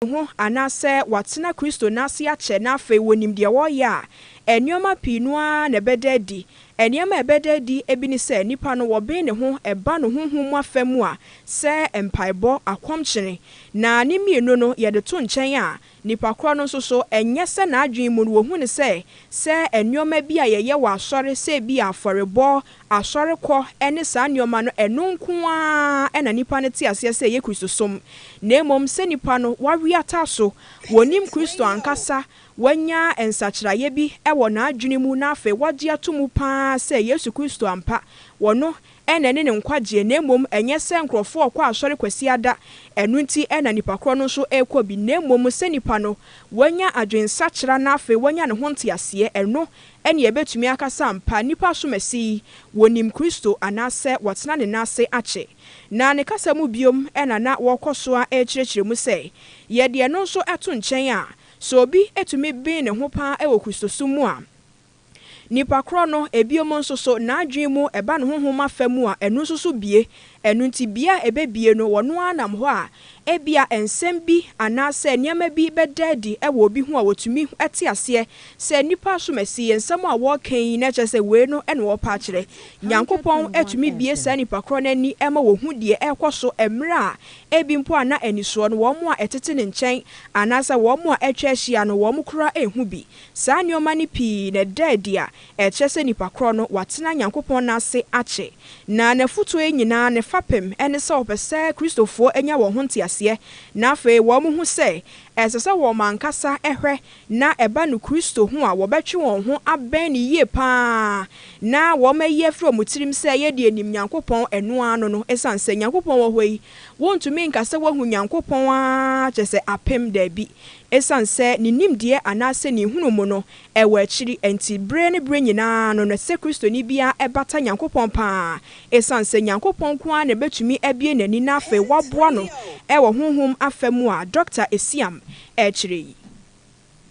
ne ho anaasɛ watena Kristo no ase akyɛ na afei wɔnim deɛ ɔreyɛ a, nneɛma pii no ara na ɛbɛda adi. Nneɛma a ɛbɛda adi bi ne sɛ, nipa no, wɔben ne ho ba no honhom mu afa mu a, sɛ mpaebɔ, akɔmkyene, na ne mmienu no, yɛde to nkyɛn a, nipa korɔ no nso so, ɛnyɛ sɛ n'adwene mu no, wɔhu no sɛ, sɛ nneɛma bi a yɛyɛ wɔ asɔre, sɛ ebia afɔrebɔ, Asɔrekɔ ne saa nneɛma no, ɛno nko ara na nnipa no te aseɛ sɛ ɛyɛ Kristosom, na mmom sɛ nnipa no wɔawe ata so, wɔnnim Kristo ankasa, wɔanya nsakyeraeɛ bi wɔ n'adwene mu, na afei wɔagye ato mu pa ara sɛ Yesu Kristo ampa, ɔno na ɛne ne nkwagyeɛ, na mmom ɛnyɛ sɛ nkurɔfoɔ rekɔ asɔre Kwasiada, ɛno nti na nnipa korɔ no nso rekɔ bi, na mmom sɛ nnipa no wanya adwensakyera na afei wanya ne ho nteaseɛ, ɛno Ɛnneɛ yɛbɛtumi aka sɛ ampa nnipa asomasi yi, wɔnim Kristo anaasɛ wɔatena ne nan ase akyɛ. Na ne kasa mu biom na na wɔkɔ so ara rekyerɛkyerɛ mu sɛ, Yɛde ɛno nso to nkyɛn a, sɛ obi tumi ben ne ho pa ara wɔ Kristosom mu a, nnipa korɔ no, ebiom nso so, n'adwene mu, ɛba ne honhom afa mu a, ɛno nso so bue Ɛno nti, bea a ebebue no, wɔno ara nam hɔ a, ebia nsɛm bi anaasɛ nneɛma bi bɛda adi wɔ obi ho a otumi te aseɛ sɛ nnipa asomasi yi, nsɛm a wɔreka yi, na kyerɛ sɛ wei no na wɔrepɛ akyerɛ. Nyankopɔn tumi bue saa nnipa korɔ no ani ma wɔhu deɛ ɛrekɔ so mmerɛ a ebi mpo a na anisoɔ no wɔn a ɛtete ne nkyɛn anaasɛ wɔn a atwa ahyia no wɔn koraa nhu bi. Saa nneɛma no pii na ɛda adi a Ɛkyerɛ sɛ nipa korɔ no watena Nyankopɔn nne ase akyɛ, na n'afutuo yi nyinaa ne fapem ne sɛ ɔpɛ sɛ Kristofoɔ nya wɔn ho nteaseɛ na afei wɔn hu sɛ ɛsɛ sɛ wɔn ankasa hwɛ na ɛba no Kristo ho a wɔbɛtwe wɔn ho abɛn no yie pa ara na wɔn ayi afiri wɔn tirim sɛ yɛ deɛ nim Nyankopɔn ɛno ara no no ɛsiane sɛ Nyankopɔn wɔ hɔ yi wontumi nka sɛ wahu Nyankopɔn ara kyɛsɛ apem daabi ɛsiane sɛ ne nimdeɛ anaasɛ ne nhunu mu no Ɛwɔ akyiri, enti bere ne bere nyinaa no na sɛ Kristoni biara bata Nyankopɔn paa, esiane sɛ Nyankopɔn nko ara na ebetumi abue n'ani na afei waboa no wɔ honhom afa mu a Dɔkta Esiam kyerɛ yi.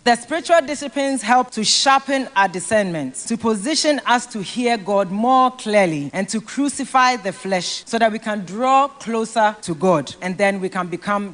The spiritual disciplines help to sharpen our discernment, to position us to hear God more clearly and to crucify the flesh so that we can draw closer to God and then we can become.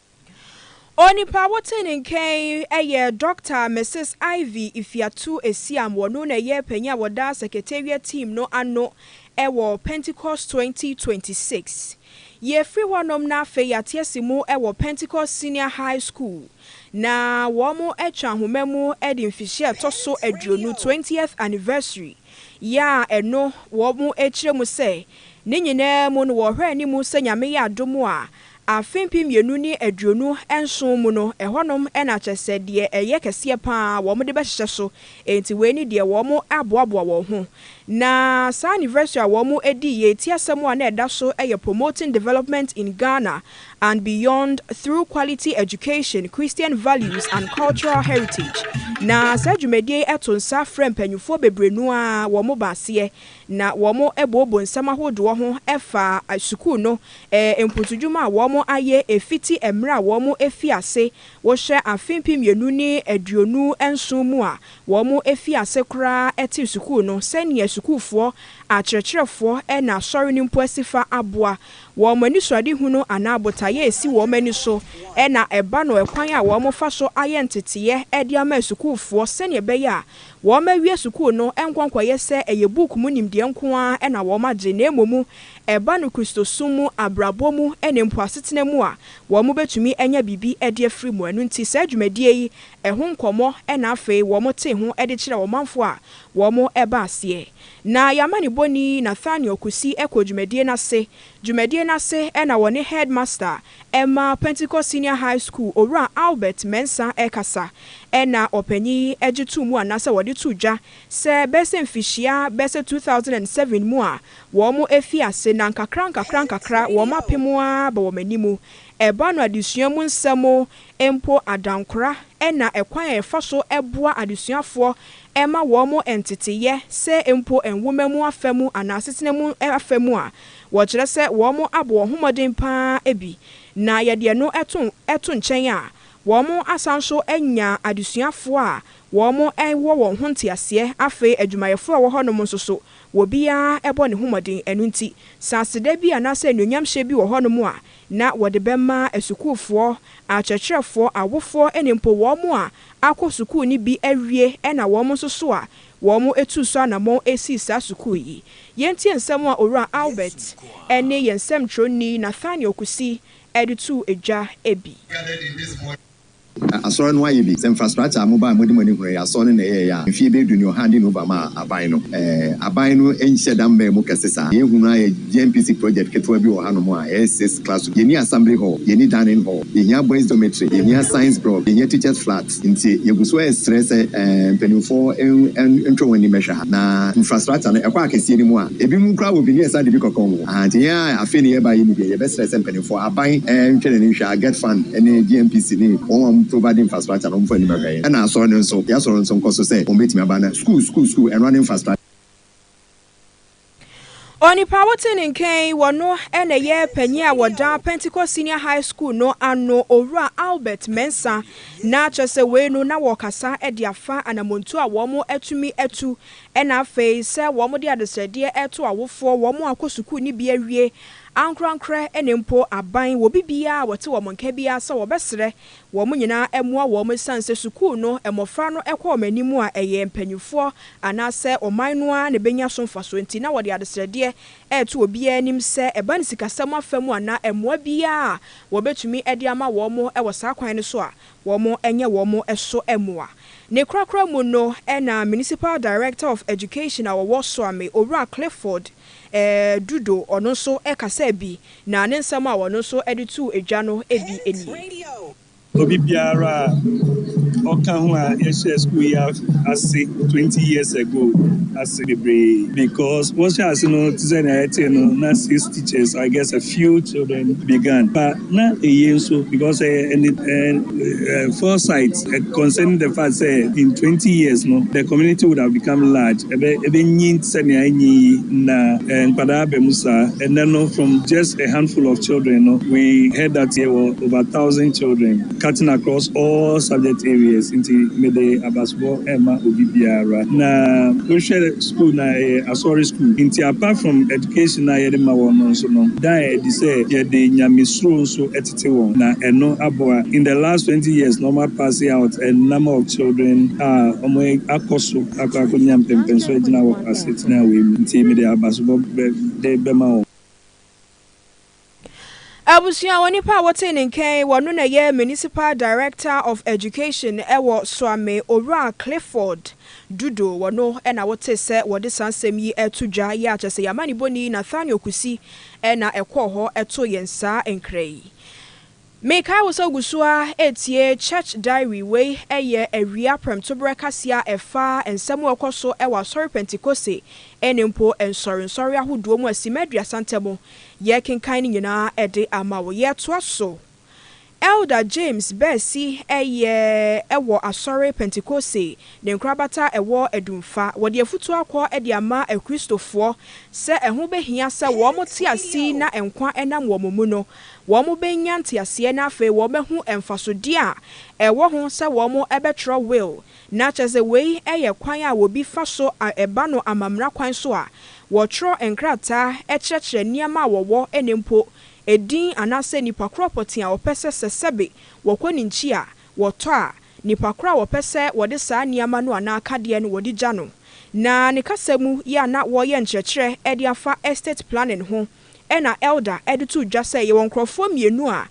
Onipa wotee ne nka yi yɛ Dɔkta Mrs. Ivy Ifiatu Esiam, wɔno na ɛyɛ panyin a wɔda Secretariat team no ano wɔ Pentecost 2026. Yɛfiri hɔnom na afei yɛatease mu wɔ Pentecost Senior High School na wɔatwa nhoma mu de mfihyia a ɛtɔ so aduonu, twentieth anniversary, yɛ a ɛno wɔkyerɛ mu sɛ ne nyinaa mu no wɔhwɛ anim sɛ Nyame yɛ adom a Afe mpem mmienu ne aduonu nson mu no, ɛhɔnom na kyerɛ sɛ deɛ ɛyɛ kɛseɛ pa ara wɔde bɛhyehyɛ so, enti wei ne deɛ wɔaboaboa wɔn ho. Na saa anniversary a wɔdii yei, ti asɛm a na ɛda so yɛ Promoting Development in Ghana and Beyond Through Quality Education, Christian Values and Cultural Heritage. Na saa dwumadie yi to nsa frɛ mpanimfoɔ bebree no ara, wɔba aseɛ. na wɔbooboo nsɛm ahodoɔ ho faa sukuu no mpuntudwuma a wɔayɛ fiti mmerɛ a wɔfii ase wohyɛ afe mpem mmienu ne aduonu nson mu a wɔfii ase koraa tee sukuu no sɛdeɛ sukuufoɔ, akyerɛkyerɛfoɔ ne asɔre no mpo asifa aboa wɔn anisoadehunu anaa botaeɛ a ɛsi wɔn ani so na ɛba no ɛkwan a wɔfa so ayɛ nteteeɛ de ama asukuufoɔ sɛdeɛ ɛbɛyɛ a Wɔawie sukuu no nkɔ nkɔyɛ sɛ ɛyɛ book mu nimdeɛ nko ara na wɔagye na mmom ɛba no Kristosom mu, abrabɔ mu ne mpo asetena mu a, wɔbɛtumi anya biribi de afiri mu. Ɛno nti saa dwumadie yi ho nkɔmmɔ na afei wɔtee ho de kyerɛɛ ɔmanfoɔ a wɔba aseɛ. Na yɛn amanebɔni Nathaniel Kusi kɔɔ dwumadie no ase. Dwumadie no ase na wɔne Headmaster Ɛma Pentecost Senior High School Owura Albert Mensah rekasa na ɔpanyin yi gye too mu anaasɛ wɔde too dwa sɛ bɛyɛ sɛ mfihyia bɛyɛ sɛ 2007 mu a wɔafii ase na nkakra nkakra nkakra wɔapem ara ba wɔn anim. Ɛba no adesua mu nsɛm mpo adankora na ɛkwan a yɛfa so boa adesuafoɔ ma wɔn nteteeɛ sɛ mpo nwoma mu afa mu anaa asetena mu afa mu a Wɔkyerɛ sɛ wɔabɔ wɔn ho mmɔden pa ara bi, na yɛde ɛno to nkyɛn a, wɔasan nso anya adesuafoɔ a wɔwɔ wɔn ho nteaseɛ. Afei adwumayɛfoɔ a ɛwɔ hɔnom nso so, obiara bɔ ne ho mmɔden. Ɛno nti, sɛ aseda bi anaasɛ anuonyamhyɛ bi wɔ hɔnom a, na wɔde bɛma asukuufoɔ, akyerɛkyerɛfoɔ, awofoɔ ne mpo wɔn a wɔakɔ sukuu no bi awie na wɔn nso so a Wɔtuu so anammɔn sii saa sukuu yi. Yɛntie nsɛm a Owura Albert ne yɛn nsɛmtwerɛni Nathaniel Kusi de too dwa bi. Na Asɔre no ayɛ bi sɛ mfrastrakyɛ a mobaa a mode mo ani hunuu ɛyɛ Asɔre no na ɛyɛeɛ a mfeɛ bɛyɛ du ne ɔha de Nova maa aban no. Aban no nhyɛ da mmɛn mu kɛse saa. Deɛ yɛhunu ara yɛ GNPC project ketewa bi wɔ hanom a ɛyɛ six classroom. Yɛnni Assembly Hall, yɛnni Dining Hall, yɛhia Boys Dormitory, yɛhia Science Block, yɛhia Teachers Flat. Nti yɛgu so resrɛ sɛ mpanimfoɔ ntwe wɔn ani mmɛhwɛ ha. Na infrastructure no ɛkɔ akɛseɛ no mu a, ebinom koraa wɔ bi ne yɛsan de bi kɔka wɔn. Ahaa nti yɛn a afei na yɛreba yi mu deɛ yɛbɛsrɛ sɛ mpanimfoɔ, aban ntwe n'ani nhwɛ ha, Get Fund ne GNPC ne wɔn a wɔprovide infrastructure no wɔmfa anim nhwɛ yɛn. Ɛna Asɔre no nso, yɛn Asɔre no nso nkɔso sɛ wɔbɛtumi aba na sukuu, sukuu, sukuu, ɛno ara ne infrastructure. Onipa a wote ne nka yi, ɔno na ɛyɛ panyin a ɔda Pentecost Senior High School no ano, Owura Albert Mensah. Na kyerɛ sɛ wei no na wɔrekasa de afa anammɔntu a wɔatumi atu, ɛna afei sɛ wɔde adesrɛdeɛ reto awofoɔ, wɔn a wɔkɔ sukuu no bi awie, ankorankorɛ ne mpo aban, wɔ obi biara a ɔte wɔn nka biara sɛ wɔbɛsrɛ wɔn nyinaa mmoa wɔn esiane sɛ sukuu no mmofra no kɔ wɔn anim a ɛyɛ mpanyimfoɔ anaasɛ ɔman no ara na ɛbɛnya so mfasoɔ nti na wɔde adesrɛdeɛ reto obiara anim sɛ ɛba no sikasɛm afa mu anaa mmoa biara a wɔbɛtumi de ama wɔn wɔ saa kwan no so a wɔnyɛ wɔn so mmoa. Ne korakora mu no na Municipal Director of Education a wɔwɔ Soame, Owura Clifford, Ɛɛ, Dudo, ɔno nso kasaa bi, na ne nsɛm a ɔno nso de too dwa no bi nie. Obi biara a ɔka ho a yɛhyɛɛ sukuu yi ase twenty years ago ase bebree because wɔhyɛɛ ase no te sɛ nea yɛtee no na six teachers I guess a few children began but Na eye nso because ɛyɛ foresight concerning the fact sɛ in twenty years no the community would have become large, ɛbɛ ɛbɛnyin te sɛ nea anyin yi na nkwadaa aba mu saa. Ɛnnɛ no from just a handful of children no we heard that yɛwɔ over thousand children. cutting across all subject areas nti mede abasobɔ rema obi biara. Na wohwɛ school no a ɛyɛ Asɔre school nti apart from education a yɛde ma wɔn no nso no daa adi sɛ yɛde Nyamesuro nso tete wɔn na ɛno aboa. In the last twenty years na wɔapase out a number of children a wɔakɔ so akɔ akɔnya mpɛmpɛnso agyina wɔ asetena wei mu nti mede abasobɔ de bɛma wɔn. Abusua onipa a wotee ne nkɛn wɔ no na ɛyɛ Municipal Director of Education wɔ Suame Owura Clifford Dudo wɔ no na wotee sɛ wɔde saa nsɛm yi reto dwa yi a kyɛsɛ yɛn amanibɔni Nathaniel Kusi na ɛkɔɔ hɔ too yɛn saa nkra yi. Mekae wo sɛ wogu so ara retie Church Diary. Wei yɛ awia prɛmtoberɛ kaseɛ a ɛfa nsɛm a ɛrekɔ so wɔ Asɔre Pentekoste ne mpo nsɔrensɔre ahodoɔ mu a simma aduasa ntam. Yɛrekenkan ne nyinaa de ama wo. Yɛtoa so. Elder James Baasi yɛ wɔ Asɔre Pentekoste ne nkorabata a ɛwɔ Adumfa. Wɔde afutuo akɔ de ama Akristofoɔ sɛ ɛho bɛhia sɛ wɔte ase na nkwa nam wɔn mu no, wɔbenya nteaseɛ na afei wɔbɛhu mfasodeɛ a ɛwɔ ho sɛ wɔbɛtwerɛ will, na kyerɛ sɛ wei yɛ kwan a obi fa so a ɛba no amammerɛ kwan so a wɔtwerɛ nkrataa kyerɛkyerɛ nneɛma a wɔwɔ ne mpo edin anaasɛ nipa korɔ pɔtee a wɔpɛ sɛ sɛ sɛbe wɔkɔ ne nkyi a wɔtɔ a nipa korɔ a wɔpɛ sɛ wɔde saa nneɛma no anaa akadeɛ no wɔde gya no. Na ne kasa mu yɛ a na wɔreyɛ nkyerɛkyerɛ de afa estate planning ho. ɛna Elder de too dwa sɛ yɛwɔ nkorɔfoɔ mmienu a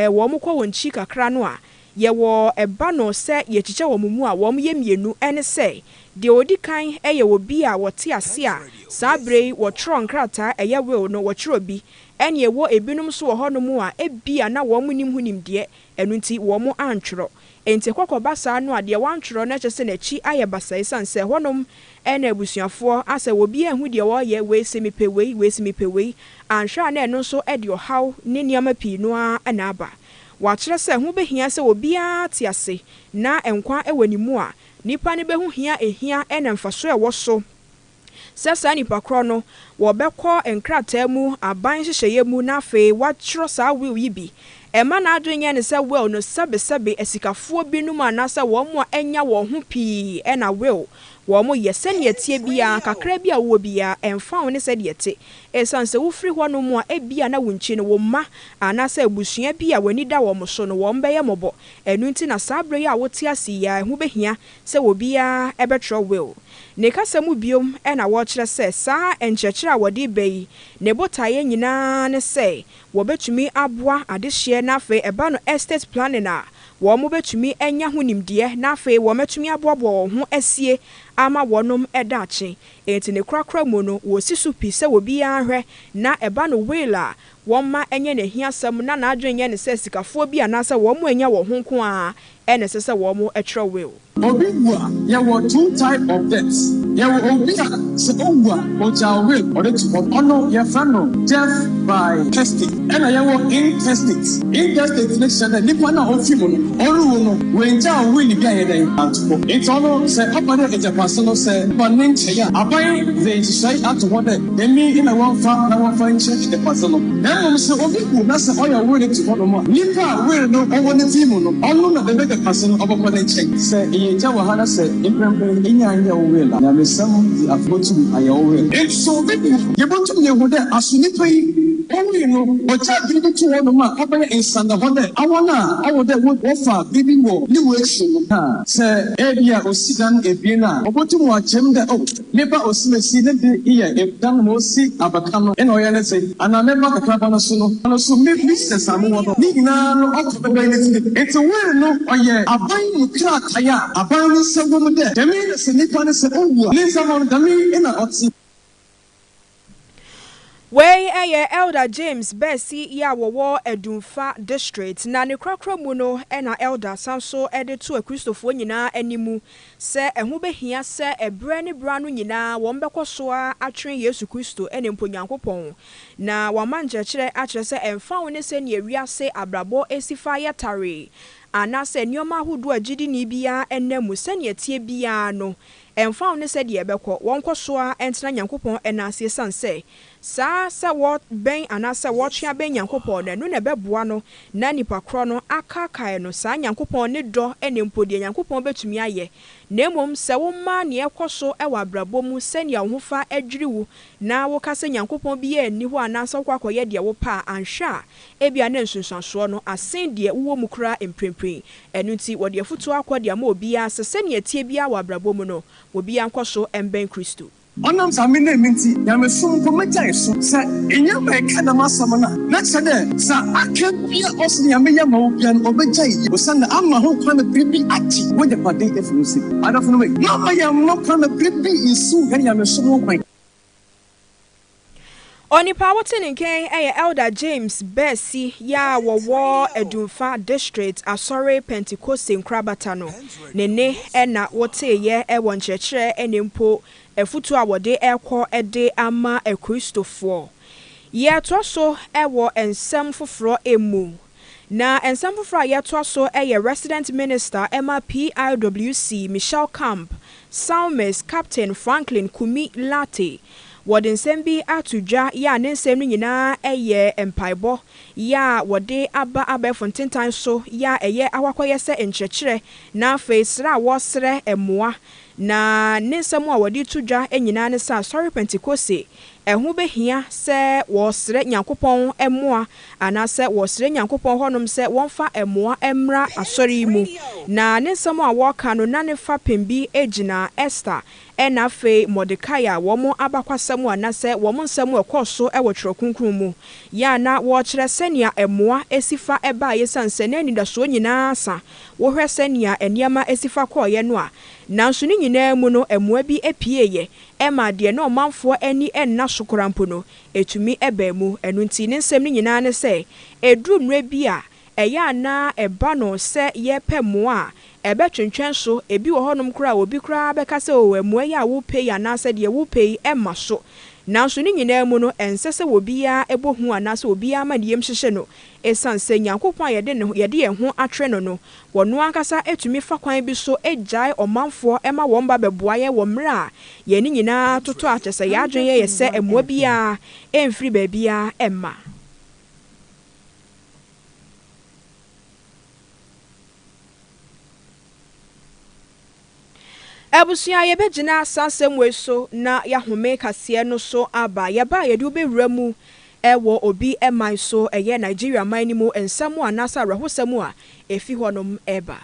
wɔn kɔ wɔn kyi kakra no a yɛwɔ ba no sɛ yɛkyikyɛ wɔn mu a wɔn yɛ mmienu ɛne sɛ deɛ ɔdi kan yɛ obi a ɔte ase a saa berɛ yi ɔtwerɛ nkrataa ɛyɛ will no ɔtwerɛ bi ɛne ɛwɔ ɛbinom nso wɔ hɔ nom a ɛbia na wɔn nnim ho nimdeɛ Ɛno nti wɔn antwerɛ. Enti ɛkɔ kɔba saa no a, deɛ wɔantwerɛ no kyerɛ sɛ n'akyi ayɛ basaa ɛsiane sɛ ɛhɔnom na abusuafoɔ asɛ wɔ obiara nhu deɛ ɔreyɛ, wei se mepɛ wei, wei se mepɛ wei. Anhwɛ a na ɛno nso de ɔhaw ne nneɛma pii no ara na aba. Wɔakyerɛ sɛ ho bɛhia sɛ obiara te ase na nkwa wɔ ne mu a, nnipa no bɛhu hia ɛhia na mfasoɔ a ɛwɔ so sɛ saa nipa korɔ no wɔbɛkɔ nkrataa mu aban nhyehyɛeɛ mu na afei watwerɛ saa will yi bi. Ɛmma n'adwene nyɛ no sɛ will no sɛbesɛbe asikafoɔ binom anaasɛ wɔn a anya wɔn ho pii na will wɔn yɛ. Sɛdeɛ ɛteɛ biara, kakra bi a wowɔ biara, ɛmfa ho ne sɛdeɛ ɛte, ɛsiane sɛ wofiri hɔnom a ebia na wonkyi no, wo mma anaasɛ abusua bi a w'ani da wɔn so no wɔn bɛyɛ mmɔbɔ. Ɛno nti na saa berɛ yi a wote ase yi ara ɛho bɛhia sɛ obiara bɛtwerɛ will ne kasa mu bio na wɔkyerɛ sɛ saa nkyerɛkyerɛ a wɔde reba yi ne botaeɛ nyinaa ne sɛ wɔbɛtumi aboa adehyeɛ na afei ɛba no estate planning a wɔbɛtumi anya ho nimdeɛ na afei wɔatumi aboaboa wɔn ho asie ama wɔnom daakye enti ne korakora mu no wɔsi so pi sɛ obiara nhwɛ na ɛba no will a wɔmma ɛnyɛ n'ahiasɛm na n'adwene nyɛ ne sɛ sikafoɔ bi anaasɛ wɔn a ɛnya wɔn ho nko ara na ɛsɛ sɛ wɔkyerɛw will. Obi wu a, yɛwɔ two type of death. Yɛwɔ obi a sɛ owu a, ogyaw will ɔde to hɔ. Ɔno yɛfrɛ no death by testate. Ɛna yɛwɔ intestate. Intestate no kyerɛ dɛ nipa no a ofi mu no, ɔrewu no, oengyaw will bi a ɛyɛ dɛn, anto hɔ. Ntsi ɔno sɛ ɔba dɛ egyapaso no sɛ ɔba ne nkyɛn a, aban dze nhyehyɛe ato hɔ dɛ Nyame na wɔmfa na wɔmfa nkyɛ adepa so no, na mmom sɛ obi wu na sɛ ɔyɛ ɔwere te hɔ nom a, nipa a were no ɔwɔ ne ti mu no, ɔno na bɛbɛ depa so no ɔbɛkɔ ne nkyɛn. Sɛ eyɛ agya wɔ ha na sɛ mprɛmprɛn enya anyɛ wo were na, nyamesɛm de afe botum ayɛ wo were. Enti sɛ obi wu a, yebotum yehu dɛ aso nipa yi owui no, ɔgyaa biribi to hɔ nom a ɔbɛyɛ nsɛndahɔ dɛ awɔn a ɔwɔ dɛ wo wɔfa biribi wɔ ne wu ekyir no kaa. Sɛ ebia osi dan ebien a, obotum ɔakyem dɛ oh, Meba osimesi ne de yɛ dan ma osi abaka no na ɔyɛ ne dze, anaa meba kakraba no so no ano so me business a mowɔ no, ne nyinaa no ɔtɔ bɛbɛn ne tsir. Ntsi will no ɔyɛ aban mu krataa a aban no nsa wɔ mu dɛ dɛm yi na sɛ nyimpa no sɛ owu a ne ndzɛmba no dɛm yi na ɔtse. Wei yɛ Elder James Bɛsi yi a wɔwɔ Adumfa District, na ne korakora mu no na Elder san nso de to Akristofoɔ nyinaa anim sɛ ɛho bɛhia sɛ ɛberɛ ne berɛ ano nyinaa wɔbɛkɔ so ara atwene Yesu Kristo ne mpo Nyankopɔn, na wama nkyerɛkyerɛ akyerɛ sɛ ɛmfa ho ne sɛdeɛ wiase abrabɔ si fa yɛ tare anaasɛ nneɛma ahodoɔ a gyidini biara nam mu sɛdeɛ ɛteɛ biara no, Ɛmfa ho ne sɛdeɛ ɛbɛkɔ, wɔnkɔ so ara ntena Nyankopɔn nan ase esiane sɛ, saa sɛ wɔbɛn anaa sɛ wɔtwe abɛn Nyankopɔn no, ɛno na ɛbɛboa no na nnipa korɔ no akaakae no, saa Nyankopɔn ne dɔ ne mpo deɛ Nyankopɔn bɛtumi ayɛ, na mmom sɛ woma nea ɛkɔ so wɔ abrabɔ mu sɛnea wo ho fa dwiri wo na woka sɛ Nyankopɔn biara nni hɔ anaasɛ wokɔ akɔyɛ deɛ wopɛ a, anhwɛ a, Ebia na nsunsuansoɔ no asen deɛ wowɔ mu koraa mprempren. Ɛno nti, wɔde afotuo akɔ de ama obiara sɛ sɛnea ɛteɛ biara wɔ abrabɔ mu no, obiara nkɔ so mmɛn Kristo. Ɔnam saa mmennee no nti, nyamesom mpo megyae so. Sɛ enye ma ɛka dɛm asɛm no a, na kyerɛ dɛ dza aka biara a ɔse Nyame yɛ ma wo biara no, obegyae yɛ, osiandɛ ama ho kwan ma biribi agye w'egyapadze efi wo nsamu. Adɔfonom, mma yɛmma kwan ma biribi nnsiw hɛn nyamesom ho kwan. Onipa a wote ne nkyɛn yɛ Elder James Baasi yi a wɔwɔ Adumfa District Asɔre Pentekoste nkorabata no. Ne nne na woteeɛ wɔ nkyerɛkyerɛ ne mpo afutuo a wɔde rekɔ de ama Akristofoɔ. Yɛtoa so wɔ nsɛm foforɔ mu Na nsɛm foforɔ a yɛtoa so yɛ Resident Minister ma PIWC, Michelle Camp, Psalmist, Captain Franklin Kumi Lartey. Wɔde nsɛm bi ato dwa yɛ a ne nsɛm no nyinaa yɛ mpaebɔ yɛ a wɔde aba abɛɛfo ntentan so yɛ a ɛyɛ ahɔakɔyɛ sɛ nkyerɛkyerɛ na afei srɛ a wɔresrɛ mmoa. Na ne nsɛm a wɔde to dwa nyinaa ne sɛ Asɔre Pentekoste Ɛho behia sɛ wɔsrɛ Nyankopɔn mmoa anaasɛ wɔsrɛ Nyankopɔn hɔnom sɛ wɔmfa mmoa mmra asɔre yi mu. Na ne nsɛm a wɔreka no, na ne fapem bi gyina Ester na afei Mordekai a wɔn abakwasɛm anaasɛ wɔn nsɛm a ɛkɔɔ so wɔ Twerɛ Kronkron mu yɛ a na wɔrekyerɛ sɛnea mmoa si fa baeɛ esiane sɛ na anidasoɔ nyinaa asa. Wohwɛ sɛnea nneɛma si fa kɔeɛ no a, nanso ne nyinaa mu no, mmoa bi pieeɛ. ɛma deɛ na ɔmanfoɔ ani nna so koraa mpo no, ɛtumi baa mu. Ɛno nti, ne nsɛm no nyinaa ne sɛ, ɛduru mmerɛ bi a, ɛyɛ a na ɛba no sɛ yɛrepɛ mmoa a, ɛbɛtwentwɛn so. Ɛbi wɔ hɔnom koraa a, obi koraa bɛka sɛ, Oo, mmoa yi a worepɛ yi anaasɛ deɛ worepɛ yi, ɛmma so. Nanso ne nyinaa mu no, ɛnsɛ sɛ obiara bɔ hu anaasɛ obiara ma ne yam hyehye no. Esiane sɛ Nyankopɔn a yɛde ne ho, yɛde yɛn ho akyerɛ no no, ɔno ankasa tumi fa kwan bi so gyae ɔmanfoɔ ma wɔmma bɛboa yɛn wɔ mmerɛ a yɛn nyinaa totɔ a kyerɛ sɛ yɛn adwene yɛ yɛ sɛ mmoa biara mfiri baabiara mma. Abusua, yɛbɛgyina saa asɛm wei so na yɛahome kaseɛ no so aba. Yɛba a yɛde wo bɛwura mu wɔ obi man so, ɛyɛ Nigeria man no mu nsɛm anaasɛ awerɛhosɛm a ɛfi hɔnom ba.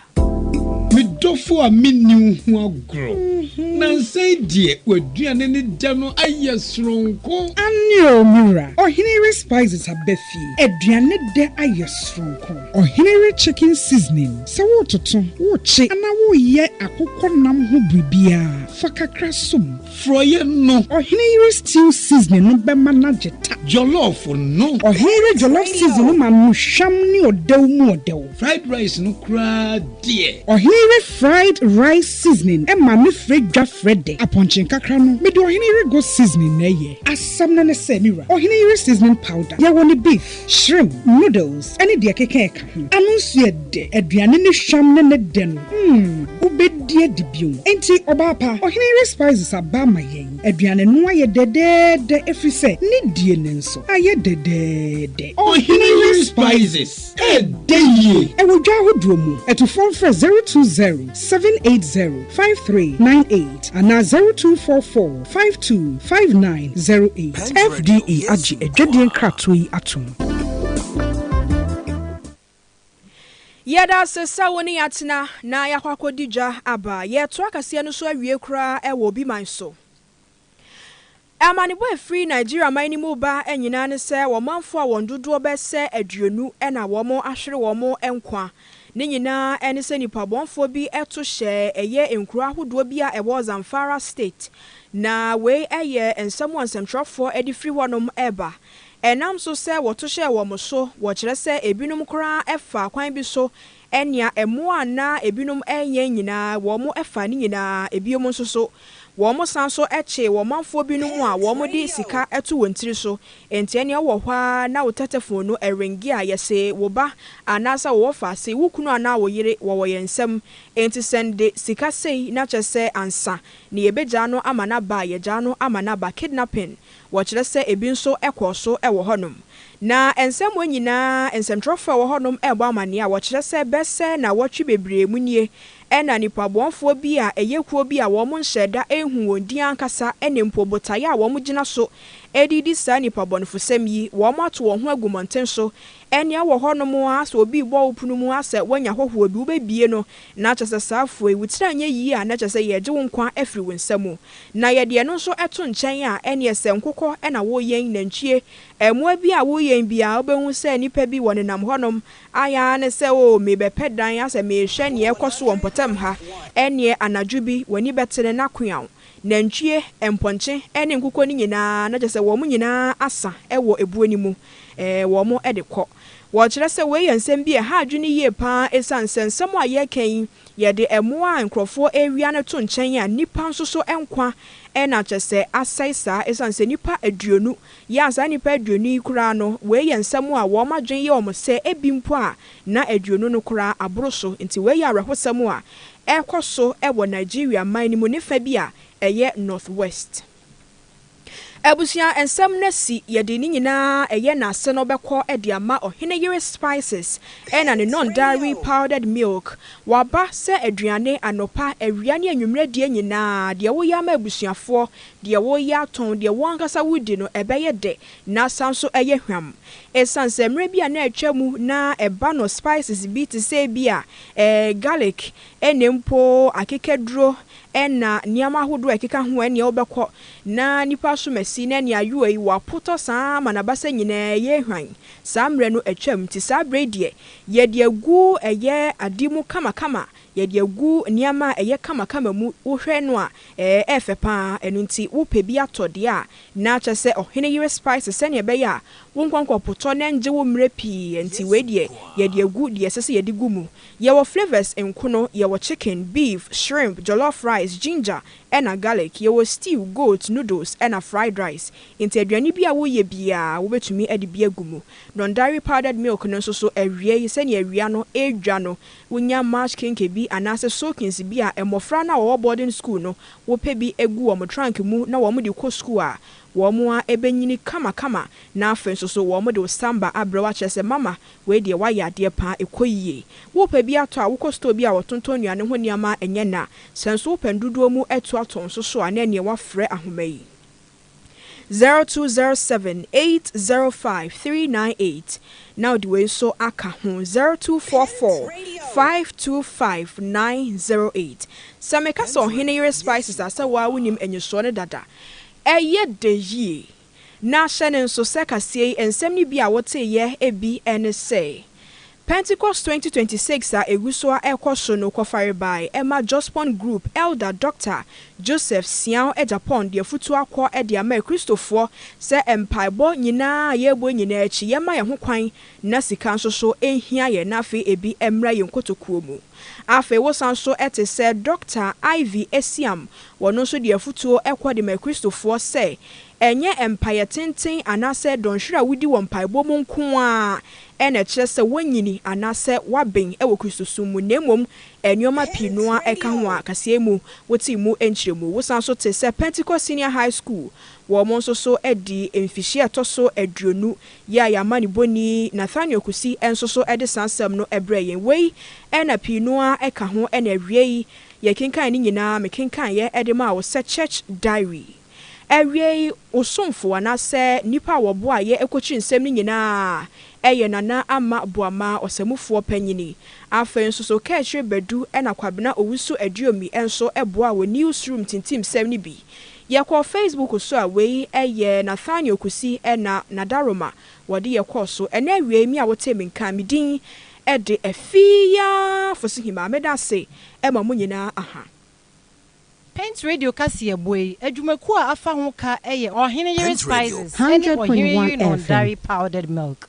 Me dɔfo a menni wo ho agorɔ. Nnansa yi deɛ w'aduane ne dɛ no ayɛ soronko. Anio me wura, Ɔhene Respices aba fie. Aduane dɛ ayɛ soronko. Ɔhene re chicken seasoning. Sɛ woretoto, worekye anaa woreyɛ akokɔ nam ho biribiara, fa kakra som. Frɔeɛ no. Ɔhene yere stew seasoning no bɛma no agye ta. Jollof no. Ɔhene yere jollof seasoning no ma no hwam ne ɔdɛw mu ɔdɛw. Fried rice no koraa deɛ. Ɔhene yere. Fried rice seasoning ɛma me frɛ dwa frɛ dɛ. Apɔnkye nkakra no mede ɔhene yere go seasoning na ɛyɛ. Asɛm no ne sɛ me wura, ɔhene yere seasoning powder yɛwɔ ne beef, shrimp, noodles ɛne deɛ ɛkeka ɛka ho. Ano nso yɛ dɛ, aduane no hwam ne ne dɛ no mm wobɛdi adi bio. Enti ɔbaa pa, ɔhene yere spices aba ama yɛn. Aduane no ayɛ dɛdɛɛdɛ ɛfiri sɛ ne die no nso ayɛ dɛdɛɛdɛ. Ɔhene yere spices. Ɛyɛ dɛ yie. Ɛwɔ dwa ahodoɔ mu. Atufoɔ mfrɛ zero two zero seven eight zero five three nine eight anaa zero two four four five two five nine zero eight. FDA agye adwadie nkratoɔ yi atom. Yɛda ase sɛ wo ne yɛatena na yɛakɔ akɔdi dwa aba. Yɛreto akaseɛ no so awie koraa wɔ Obiman so. Amanebɔ a ɛfiri Nigeria man no mu reba nyinaa ne sɛ wɔn manfoɔ a wɔn dodoɔ bɛyɛ sɛ aduonu na wɔn ahwere wɔn nkwa. Ne nyinaa ne sɛ nipabɔnfoɔ bi to hyɛɛ ɛyɛ nkuro ahodoɔ bi a ɛwɔ Zamfara State. Na wei yɛ nsɛm a nsɛmtwerɛfoɔ de firi hɔnom reba. Ɛnam so sɛ wɔto hyɛɛ wɔn so, wɔkyerɛ sɛ ebinom koraa faa kwan bi so Ɛnea mmoa a na ebinom nyɛ nyinaa, wɔfaa ne nyinaa. Bio nso so, wɔsan nso kyee ɔmanfoɔ binom a wɔde sika to wɔn tiri so. Enti ɛnneɛ wowɔ hɔ ara na wo tɛtɛfon no ringe a, yɛse wo ba anaasɛ wo wɔfa se wo kunu anaa wo yere wɔwɔ yɛn nsam, enti sɛn de sika sei na kyerɛ sɛ ansa na yɛbɛgyaa no ama no aba a, yɛgyaa no ama no aba. Kidnapping Wɔkyerɛ sɛ ebi nso kɔɔ so wɔ hɔnom. Ná nsɛmma nyinaa nsɛnkyerɛwfo a wɔwɔ hɔnom rebɔ amanneɛ a wɔkyerɛ sɛ bɛsɛ nnawɔtwe bebree mu nie, ɛnna nnipa bɔnefo bi a ɛyɛ kuo bi a wɔnhyɛɛ da nhuu wɔn din ankasa ne mpo botae a wɔgyina so de redi saa nnipa bɔnefosɛm yi, wɔato wɔn ho agu mmɔnten so Ɛnea wɔ hɔnom ara sɛ obi rebɔ wo pono mu ara sɛ woanya hɔhoɔ bi, wobɛbie no, na kyerɛ sɛ saa afuo yi, wo tiri anyɛ yie a, na kyerɛ sɛ yɛregye wo nkwa afiri wo nsa mu. Na yɛde ɛno nso to nkyɛn a, ɛnneɛ sɛ nkokɔ na woreyɛn, nantwie, mmoa bi a woreyɛn bi a, wobɛhu sɛ nnipa bi wɔnenam hɔnom, ayɛ ara ne sɛ, O, merebɛpɛ dan asɛ merehwɛ nea ɛrekɔ so wɔ mpɔtam ha, ɛnneɛ anadwo bi, w'ani bɛtene na koaw. Nantwie, mpɔnkye ne nkokɔ no nyinaa, na kyerɛ sɛ wɔn nyinaa asa wɔ ebuo no mu, wɔde kɔ. Wɔkyerɛ sɛ wei yɛ nsɛm bi a ɛha adwene yie pa ara ɛsiane sɛ nsɛm a yɛreka yi, yɛde mmoa a nkurɔfoɔ rewia no to nkyɛn a, nnipa nso so nkwa na kyerɛ sɛ asɛe saa ɛsiane sɛ nnipa aduonu yɛ a saa nnipa aduonu yi koraa no, wei yɛ nsɛm a wɔn adwene yɛ wɔn sɛ ebi mpo a na aduonu no koraa aboro so. Nti wei yɛ awerɛhosɛm a ɛrekɔ so wɔ Nigeria man no mu ne fa bi a ɛyɛ Northwest. Abusua nsɛm no asi, yɛde ne nyinaa a ɛyɛ n'ase no bɛkɔ de ama ɔhene yere spices ɛna ne nɔndawee powdered milk, waba sɛ aduane anɔpa, awia ne anwummerɛ deɛ nyinaa, deɛ woyɛ ama abusuafoɔ, deɛ woyɛ atɔn, deɛ wo ankasa wodi no ɛbɛyɛ dɛ na asan nso ayɛ hwam. Ɛsiane sɛ mmerɛ bi a na atwa mu na ɛba no spices bi te sɛ ebia Ɛɛ, garlic ne mpo akekaduro na nneɛma ahodoɔ a ɛkeka ho ɛneɛ wobɛkɔ na nipa asom asi na ɛneɛ ayowa yi wapotɔ saa ara ma n'abasa nyinaa ɛyɛ hwan. Saa mmerɛ no atwam nti saa berɛ yi deɛ yɛde agu ɛyɛ ade mu kama kama, yɛde agu nneɛma a ɛyɛ kama kama mu, wohwɛ no a ɛɛfɛ pa ara ɛno nti wopɛ bi atɔ deɛ a Ná kyerɛ sɛ ɔhene yere spice sɛnea ɛbɛyɛ a wo nkɔnkɔn potɔ na ɛnngye wo mmerɛ pii ɛnti wei deɛ yɛde agu deɛ ɛsɛ sɛ yɛde gu mu. Yɛwɔ flavours nkono, yɛwɔ chicken, beef, shrimp, jollof rice, ginger ɛna garlic, yɛwɔ stew, goat, noodles ɛna fried rice. Nti aduane bi a woyɛ biara wobɛtumi ɛde bi agu mu. Non-dairy powdered milk no nso so awiei sɛnea awia no ɛredwa no wonya march kinky bi anaasɛ soakings bi a mmɔfra no a wɔwɔ boarding school no wopɛ bi gu wɔn trunk mu na wɔde kɔ sukuu a, wɔn ara bɛnyini kamakama na afei nso so wɔde wo samba abrɛ wo akyerɛ sɛ, Mama, wei deɛ woayɛ adeɛ pa ara, ɛkɔ yie. Worepɛ bi atɔ a, wokɔ store bi a wɔtontɔn nnuane ho nneɛma a ɛnyɛ nã. Sɛ nso wopɛ ndodoɔ mu atuo atɔ nso so a, na ɛnneɛ woafrɛ ahoma yi. zero two zero seven eight zero five three nine eight na wode wei nso aka ho zero two four four five two five nine zero eight sɛ meka sɛ ɔhene yere spices a sɛ woaa wonim anisoɔ no dada ɛyɛ dɛ yie na hyɛ no nso sɛ kaseɛ yi nsɛm no bi a woteeɛ bi ne sɛ Pentecost twenty twenty six a egu so a ɛrekɔ so no kɔfare bae ɛma Jospon Group Elder Dɔkta Joseph Siaw Agyapong de afutuo akɔ de ama akristofoɔ sɛ mpaebɔ nyinaa a yɛrebɔ nyinaa akyi yɛmma yɛn ho kwan na sika nso so nhia yɛn na afei ebi mmra yɛn nkotokuo mu. Afei wosan nso te sɛ Dɔkta Ivy Asiam wɔno nso de afutuo kɔ de ma akristofoɔ sɛ Ɛnyɛ mpaeɛ tenten anaasɛ dɔnhwere a wodi wɔ mpaebɔ mu nko ara na ɛkyerɛ sɛ woanyini anaasɛ woaben wɔ Kristosom mu, na mmom nneɛma pii no ara ka ho a kaseɛ mu wotee mu nkyerɛmu. Wosan nso te sɛ Pentecost Senior High School, wɔn nso so adi mfihyia a ɛtɔ so aduonu yɛ a yɛn amanebɔni Nathaniel Kusi nso so de saa nsɛm no brɛɛ yɛn. Wei na pii no ara ka ho na awiei yɛkenkan ne nyinaa, mekenkaneeɛ de maa wo sɛ Church Diary. Awiei, wo somfo anaasɛ nnipa a wɔboaa yɛn kokyee nsɛm no nyinaa yɛ Nana Ama Boama, ɔsamufoɔ panyin. Afei nso so Kaakyire Badu na Kwabena Owusu Aduomi nso boaa wɔ Newsroom tintimsɛm no bi. Yɛkɔɔ Facebook so a, wei yɛ Nathaniel Kusi na Nadaroma wɔde yɛ kɔɔ so. Ɛnnɛ awiei, me a wotee me nka me din de Afie Fosuhima, meda ase ma mo nyinaa. Paint Radio kaseɛbɔ yi adwumakuo a afa ho ka yɛ Ɔhene Yere Spices ne Ɔhene Yere Nɔndare Powdered Milk.